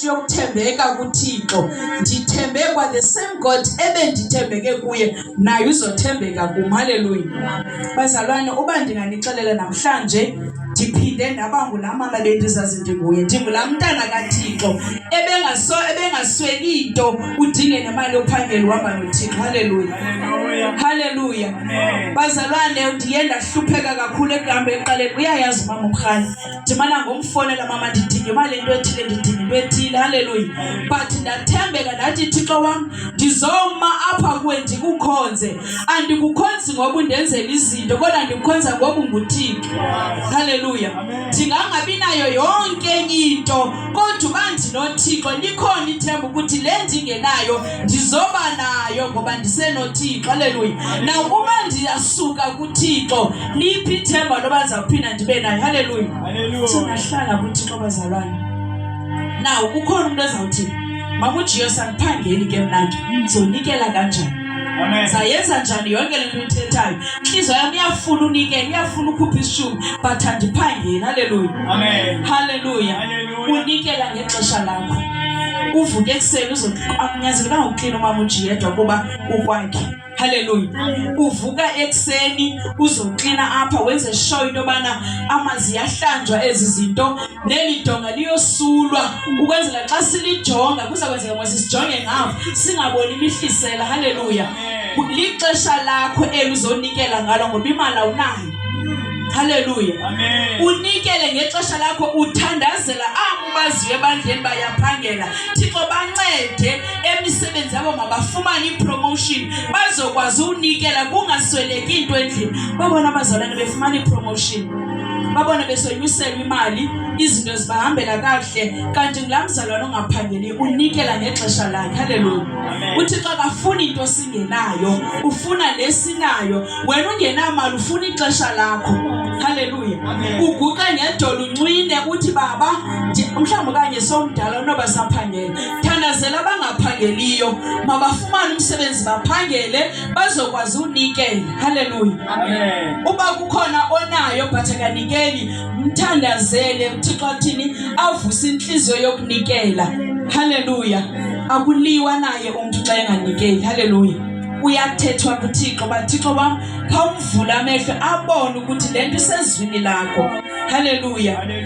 yokuthembeka kuThixo ndithembe kwa the same God ebendithembeke kuye naye uzothembeka kum haleluya bazalwane uba ndinganixelela namhlanje ndiphinde ndaba ngulaa mama bendizazi ndinguye ndingulaa mntana kathixo ebengaso ebengasweli nto udinge nemali yophangeli uhamba nothixo haleluya haleluya bazalwane ndiye ndahlupheka kakhulu ekuhambeni eqaleni uyayazi umama umrhani ndimana ngomfonela mama ndidinga imali into ethile ndidinga into ethile halleluya but ndathembeka ndathi thixo wam ndizoma apha kuwe ndikukhonze andikukhonzi ngoba undenzela izinto kodwa ndikukhonza ngoba unguthixo halleluya ndingangabi nayo yonke enye into kodwa uba ndinothixo likhona ithemba ukuthi le ndingenayo ndizoba nayo ngoba ndisenothixo haleluya nakuba ndiyasuka kuthixo liphi ithemba loba ndizawuphinda ndibe nayo haleluya singahlala kuthixo bazalwane naw kukhona umntu ezawuthi makujiyo sandiphangeli ke mna ke ndizonikela kanjani sayenza njani yonke le nto uyithethayo intliziyo yam iyafuna unikela iyafuna ukhupha isishumi but andiphangeli haleluya haleluya unikela ngexesha lakho uvuke ekuseni uzokunyanzelekanga ukuklina umama ujiyedwa kuba ukwakhe haleluya uvuka ekuseni uzoklina apha wenze show into yobana amazi yahlanjwa ezi zinto neli donga liyosulwa ukwenzela xa silijonga kuza kwenzeka ngoba sisijonge ngapha singaboni imihlisela haleluya lixesha lakho eluzonikela ngalo ngoba imali awunayo Haleluya. Amen. Unikele ngexesha lakho uthandazela abo baziyo ebandleni bayaphangela. Thixo bancede emisebenzi yabo mabafumane ipromotion bazokwazi unikela kungasweleki into endlini. Babona abazalwane befumana ipromotion. Babona besonyuselwa imali, izinto zibahambela kakuhle kanti ngulaa mzalwane ongaphangeli unikela ngexesha lakhe. Haleluya. UThixo akafuni into singenayo, ufuna lesinayo. wena ungenamali ufuna ixesha lakho haleluya uguqe ngedolo uncwine uthi baba mhlawumbi okanye somdala unoba saphangele thandazela abangaphangeliyo mabafumane umsebenzi baphangele bazokwazi unikela haleluya uba kukhona onayo but akanikeli mthandazele uthixo athini avuse intliziyo yokunikela haleluya akuliwa naye umntu xa enganikeli haleluya kuyathethwa kuthixo uba thixo wam khawumvule amehlo abone ukuthi le nto isezwini lakho halleluya